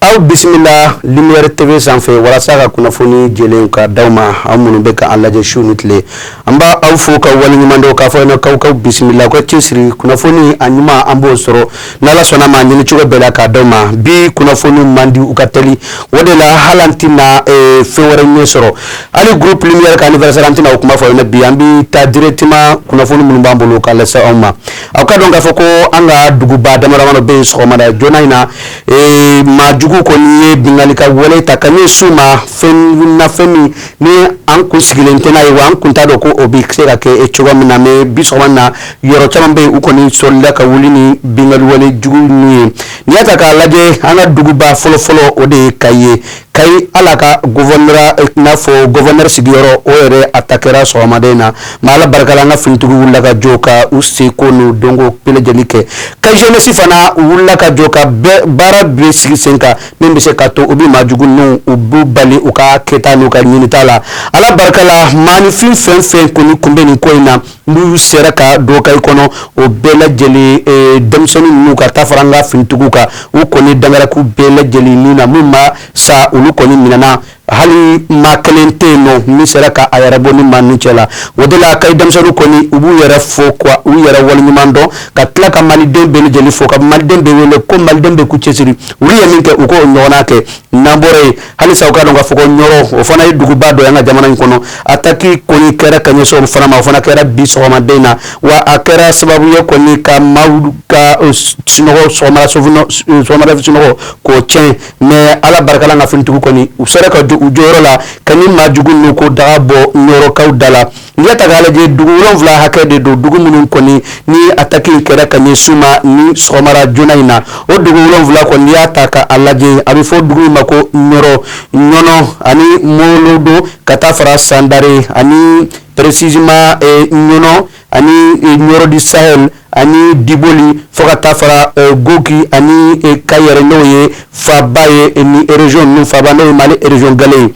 Aw bisimila lumière T V sanfɛ walasa ka kunnafoni jɛlen ka d'aw ma aw minnu bɛ k'an lajɛ su ni tile an b'aw fo k'aw waleɲuman dɔn k'a fɔ aw ɲɛna k'aw k'aw bisimila aw ka cɛsiri kunnafoni a ɲuman an b'o sɔrɔ ni Ala sɔnn'a ma ɲini cogo bɛɛ la k'a d'aw ma bi kunnafoni man di u ka teli o de la hali an tɛna fɛn wɛrɛ ɲɛ sɔrɔ hali groupe lumière ka anniversaire an tɛna o kuma fɔ aw ɲɛna bi an bɛ taa directement kunnafoni minnu b'an bolo k'a lase aw ma aw ka dɔn k'a fɔ ko an ka duguba dama-damani bɛ yen sɔgɔmada joona in na ee maa jugu kɔni ye binkanni ka wale ta ka ɲɛsin u ma fɛn na fɛn min ni an kun sigilen tɛ n'a ye wa an kun t'a dɔn ko o bɛ se ka kɛ cogo min na mais bi sɔgɔma na yɔrɔ caman bɛ yen u kɔni solila ka wuli ni binkanni wale jugu ninnu ye n'i y'a ta k'a lajɛ an ka duguba fɔlɔfɔlɔ o de ye kayi ye kayi hali ka n'a fɔ gouverneur sigiyɔrɔ o yɛrɛ atakera sɔgɔmada in na mais ala barika la an ka finitigiw wulila ka jɔ ka u seko n'u dɔnko bɛɛ lajɛlen kɛ kayi jeunesse fana u wulila ka jɔ ka baara bɛɛ sigi sen kan min bɛ se ka to u bɛ maa jugu ninnu u b'u bali u ka kɛta n'u ka ɲinita la ala barika la maa nin fɛn o fɛn kɔni kun bɛ nin ko in na n'u sera ka don kayi kɔnɔ o bɛɛ lajɛlen eh, denmisɛnnin ninnu ka taa fara an ka finitigiw kan u kɔni dangaraku bɛɛ lajɛlen ninnu na min ma sa olu kɔni minɛna hali maa kelen tɛ yen n'o min sera ka a yɛrɛ bɔ ni maa ninnu cɛ la o de la kayi denmisɛnninw kɔni u b'u yɛrɛ fo ka u yɛrɛ waleɲuman dɔn ka tila ka maliden bɛɛ lajɛlen fo ka maliden bɛɛ wele ko maliden bɛɛ k'u cɛsiri olu ye min kɛ u k'o ɲɔgɔnna kɛ n'an bɔra yen halisa aw ka dɔn k'a fɔ ko ɲɔrɔ o fana ye duguba dɔ ye an ka jamana in kɔnɔ ataki kɔni kɛra ka ɲɛsin o fana ma o fana kɛra bi sɔgɔmada in na wa a kɛra sababu ye kɔni ka maaw ka eh, sunɔgɔ sɔgɔmada eh, sunɔgɔ k'o tiɲɛ mais ala barika la an ka finitigiw kɔni u sera ka u jɔyɔrɔ la ka ni maa jugu ninnu ko daga bɔ ɲɔrɔkaw da la N'i y'a ta k'a lajɛ dugu wolonwula hakɛ de don dugu minnu kɔni ni ataki kɛra ka ɲɛsin u ma ni sɔgɔmara joona in na o dugu wolonwula kɔni y'a ta ka a lajɛ a bɛ fɔ dugu min ma ko ɲɔnɔ ani molodo ka taa fara sandare ani précisément ɲɔnɔ ani ɲɔrɔ du sahel ani diboli fo ka taa fara gogi ani kayi yɛrɛ n'o ye faba ye ni région ninnu faba n'o ye mali région gale ye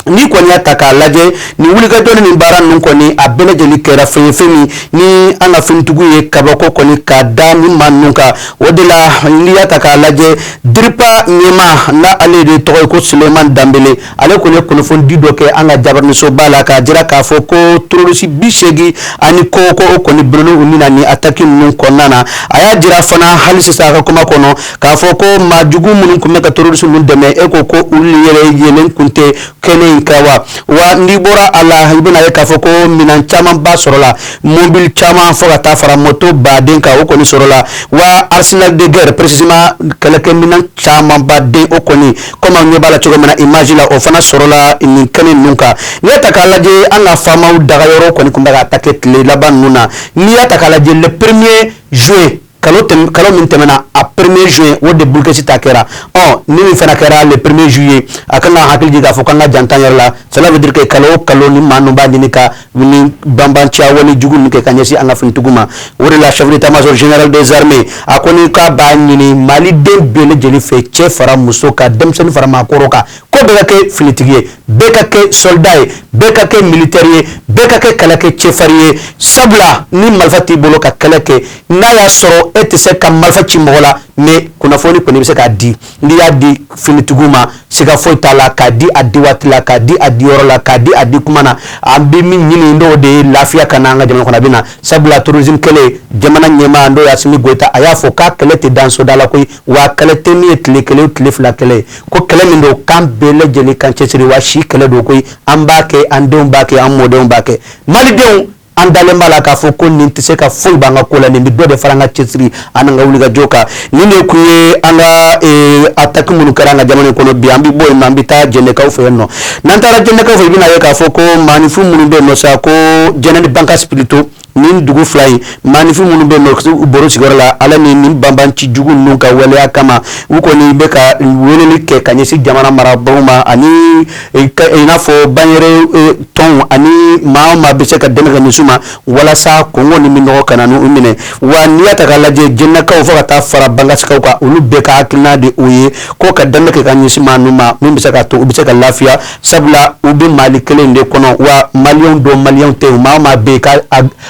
n'i kɔni y'a ta k'a lajɛ ni wulikajɔ ni baara ninnu kɔni a bɛɛ lajɛlen kɛra fɛn ye fɛn min ni an ka finitigiw ye kabako kɔni ka da ni maa ninnu kan o de la n'i y'a ta k'a lajɛ diripa ɲɛmaa n'a ale de tɔgɔ ye ko suleman danbele ale kɔni ye kunnafonidi dɔ kɛ an ka jabaraninsoba la k'a jira k'a fɔ ko terorisi bi seegin ani kɔ k'o kɔni bɔnɛna u ni na ni ataki ninnu kɔnɔna na a y'a jira fana hali sisan a ka kuma kɔnɔ k'a fɔ ko maa jugu minnu tun bɛ ka terroriste ninnu dɛmɛ e ko ko olu yɛrɛ yelen tun tɛ kɛnɛ in kan wa wa n'i bɔra a la i bɛna ye k'a fɔ ko minɛn camanba sɔrɔla mobili caman fo ka taa fara moto baden kan o kɔni sɔrɔla wa arsenal de guerre précisément kɛlɛkɛminɛn camanba den o kɔni komi an ɲɛ b'a la cogo min na image la o fana sɔrɔla nin kɛnɛ ninnu kan n'i y'a ta k'a lajɛ an ka faamaw dagayɔrɔ kɔni tun bɛ ka attaquer tile laban ninnu na n'i y'a ta k'a lajɛ le premier juin kalo min tɛmɛna a premier juin o de Bulikɛsi ta kɛra ɔ nin min fana kɛra le premier juillet a ka kan ka hakili jigin k'a fɔ k'an ka janto an yɛrɛ la cela veut dire que kalo o kalo nin maa ninnu b'a ɲini ka banbanciya wale jugu nin kɛ ka ɲɛsin an ka finitigiw ma o de la chef d'état-major général des armées a kɔni k'a b'a ɲini maliden bɛɛ lajɛlen fɛ cɛ fara muso kan denmisɛnnin fara maakɔrɔ kan ko bɛɛ ka kɛ finitigi ye bɛɛ ka kɛ soldat ye bɛɛ ka kɛ militaire ye bɛɛ ka kɛ kɛlɛkɛcɛ farin ye sabula ni marifa t'i bolo ka kɛlɛ kɛ n'a y'a sɔrɔ e tɛ se ka marifa ci mɔgɔ la mais kunnafoni kɔni i bɛ se k'a di n'i y'a di finitigiw ma siga foyi t'a la k'a di a di waati la k'a di a di yɔrɔ la k'a di a di kuma na an bɛ min ɲini n'o de ye lafiya ka na an ka jamana kɔnɔ a bɛ na sabula terrorisme kɛlɛ jamana ɲɛmaa n'o ye Asimi Goyita a y'a fɔ k'a kɛlɛ tɛ dan soldat la koyi wa kɛlɛ tɛ min ye tile kelen o tile fila kɛlɛ ye ko kɛlɛ min don k'an bɛɛ lajɛlen k'an cɛsiri wa si kɛlɛ don koyi an b'a kɛ an denw b'a kɛ an mɔdenw b'a kɛ malidenw an dalen b'a la k'a fɔ ko nin tɛ se ka foyi b'an ka ko la nin bɛ dɔ de fara an ka cɛsiri ani an ka wulikajɔ kan nin de kun ye an ka eh, ataki minnu kɛra an ka jamana in kɔnɔ bi an bɛ bɔ yen nɔ an bɛ taa jɛnɛkaw fɛ yen nɔ n'an taara jɛnɛkaw fɛ i bɛna ye k'a fɔ ko maanifin minnu bɛ yen nɔ sako Jɛnɛ ni Bankasi surtout nin dugu fila in maanifin minnu bɛ yen nɔ bɔra u sigiyɔrɔ la ala ni nin banbanci jugu ninnu ka waleya kama u kɔni bɛ ka weleli kɛ ka ɲɛsin jamana marabaaw ma ani i n'a fɔ banyɛrɛye tɔnw ani maa o maa bɛ se ka dɛmɛ kɛ ka ɲɛsin u ma walasa kɔngɔ ni minnɔgɔ kana n'u minɛ wa n'i y'a ta k'a lajɛ Jɛnɛkaw fo ka taa fara Bankasikaw kan olu bɛɛ ka hakilina de o ye ko ka dɛmɛ kɛ ka ɲɛsin maa ninnu ma min bɛ se ka to u bɛ se ka lafiya sabula u bɛ Mali kelen in de kɔnɔ wa maliyɛnw don maliyɛnw tɛ maa o maa bɛ yen ka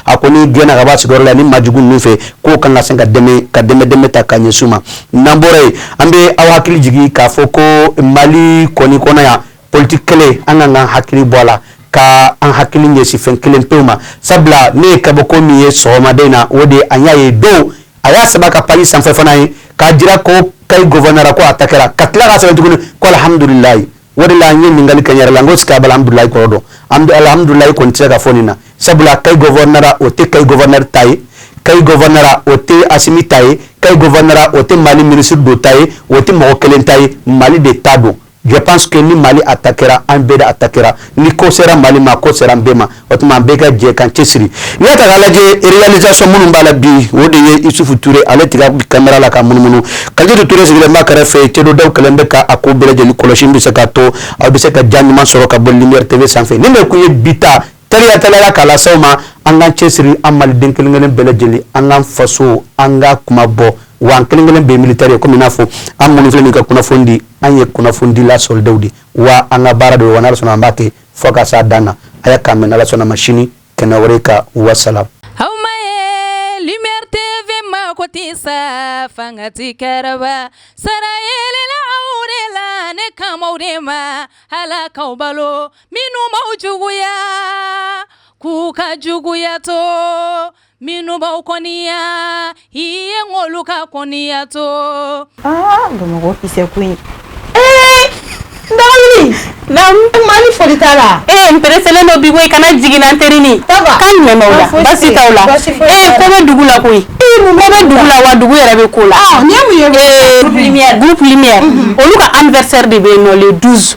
a kɔni gɛnna ka b'a sigiyɔrɔ la nin maa jugu ninnu fɛ ko k'an ka se ka dɛmɛ ka dɛmɛ dɛmɛ ta ka ɲɛsin u ma n'an bɔra yen an bɛ aw hakili jigin k'a fɔ ko mali kɔni kɔnɔ yan politiki kɛlɛ an ka an hakili bɔ a la ka an hakili ɲɛsin fɛn kelen pewu ma sabula ne ye kabako min ye sɔgɔmada in na o de an y'a ye dɔ y'a sɛbɛn a ka page sanfɛ fana ye k'a jira ko Kayi gouvernorat ko attaquera ka tila k'a sɛbɛn tuguni ko alihamudulilayi o de la an ye ɲininkali kɛ n yɛrɛ la n ko est-ce qu'a bɛ alhamdulayi kɔrɔ dɔn alhamdulayi kɔni tɛ se ka fɔ nin na sabula Kayi gouvernorat o tɛ Kayi gouverneur ta ye Kayi gouvernorat o tɛ Asimi ta ye Kayi gouvernorat o tɛ mali minisiri dɔ ta ye o tɛ mɔgɔ kelen ta ye mali de ta don je pense que ni mali attaquera an bɛɛ de attaquera ni ko sera mali ma ko sera an bɛɛ ma o tuma an bɛɛ ka jɛ k'an cɛ siri n'i y'a ta k'a lajɛ réalisation minnu b'a la bi o de ye isufu tuure ale tigɛ kamera la ka munumunu kalidu tuure sigilen b'a kɛrɛfɛ cɛda kɛlen bɛ k'a ko bɛɛ lajɛlen kɔlɔsi bɛ se ka to aw bɛ se ka ja ɲuman sɔrɔ ka bɔ lumière tv sanfɛ nin de tun ye bi ta tayatala k'a lase aw ma an k'an cɛ siri an mali den kelenkelen bɛɛ lajɛlen an ka faso an ka kuma bɔ wa an kelenkelen bɛɛ militaire ye kɔmi i n'a fɔ an minnu filɛ ka kunnafoni di an ye kunnafonidila sɔrɔdaw de wa an ka baara de wa n'ala sɔnna an b'a kɛ fo ka s'a dan na a y'an kan mɛn n'ala sɔnna ma sini kɛnɛ wɛrɛ ka wasalam aw ma ye lumière tv ma ko ti sa fanga ti kɛrɛba sara yelela aw de la ne kamaw de ma ala k'aw balo minnu b'aw juguya k'u ka juguya to Minnu b'aw kɔniya i ye k'olu ka kɔniya to aa bamakɔ kisɛ koyi ee mali fa la e n pereselen do bi i kana jigin la teri la ko bɛ dugu la koyi ko bɛ dugu la wa dugu yɛrɛ bɛ ko la groupe lumière olu ka anniversaire de bɛ nɔ le douze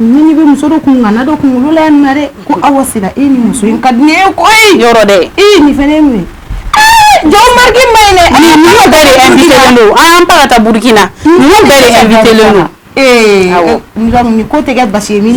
Ni bɛ muso dɔ kun ŋana dɔ kunkolo la yan nɔ dɛ ko awa sira e ni muso in ka di ne ye koyi yɔrɔ dɛ e ye nin fana min jɔn mariki ma ɲi dɛ ninnu bɛɛ de invitélen don an pa ka taa burukina ninnu bɛɛ de invitélen don ee ko tɛ kɛ basi ye min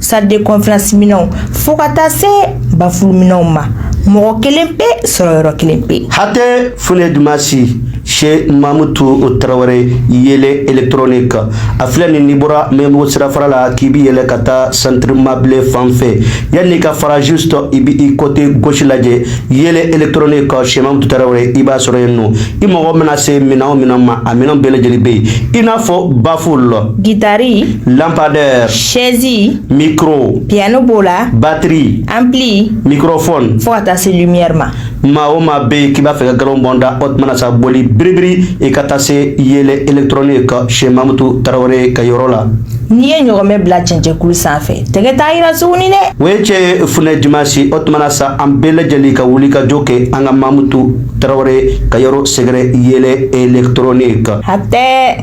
salle de conférence minɛnw fo ka taa se bafulu minɛnw ma mɔgɔ kelen pe sɔrɔ yɔrɔ kelen pe hatɛ funɛ dumasi chez mamutu tarawele yele électronique a filɛ nin n'i bɔra mɛbugu sirafara la k'i bi yɛlɛ ka taa centre mable fan fɛ yanni ka fara juste i bi i côté gauche lajɛ yele électronique chez mamutu tarawele i b'a sɔrɔ yen nɔ i mago mana se minɛn o minɛn ma a minɛn bɛɛ lajɛlen bɛ yen i n'a fɔ bafulu gitari lampadaire sɛzi mikro piano b'o la batiri ampli mikrofone fo ka taa se lumière ma maa o maa be k'i b'a fɛ ka galon bɔnda o tuma na sa boli biribiri i ka taa se yele électronique chez mamutu tarawele ka yɔrɔ la n'i ye ɲɔgɔmɛ bila cɛncɛnkulu san fɛ tɛgɛ t'a yira suguni dɛ o ye cɛ funɛ dimasi o tuma na sa an bɛɛ lajɛlen ka wuli ka jɔ kɛ an ka mamutu tarawele ka yɔrɔ sɛgɛrɛ yele électronique hatɛ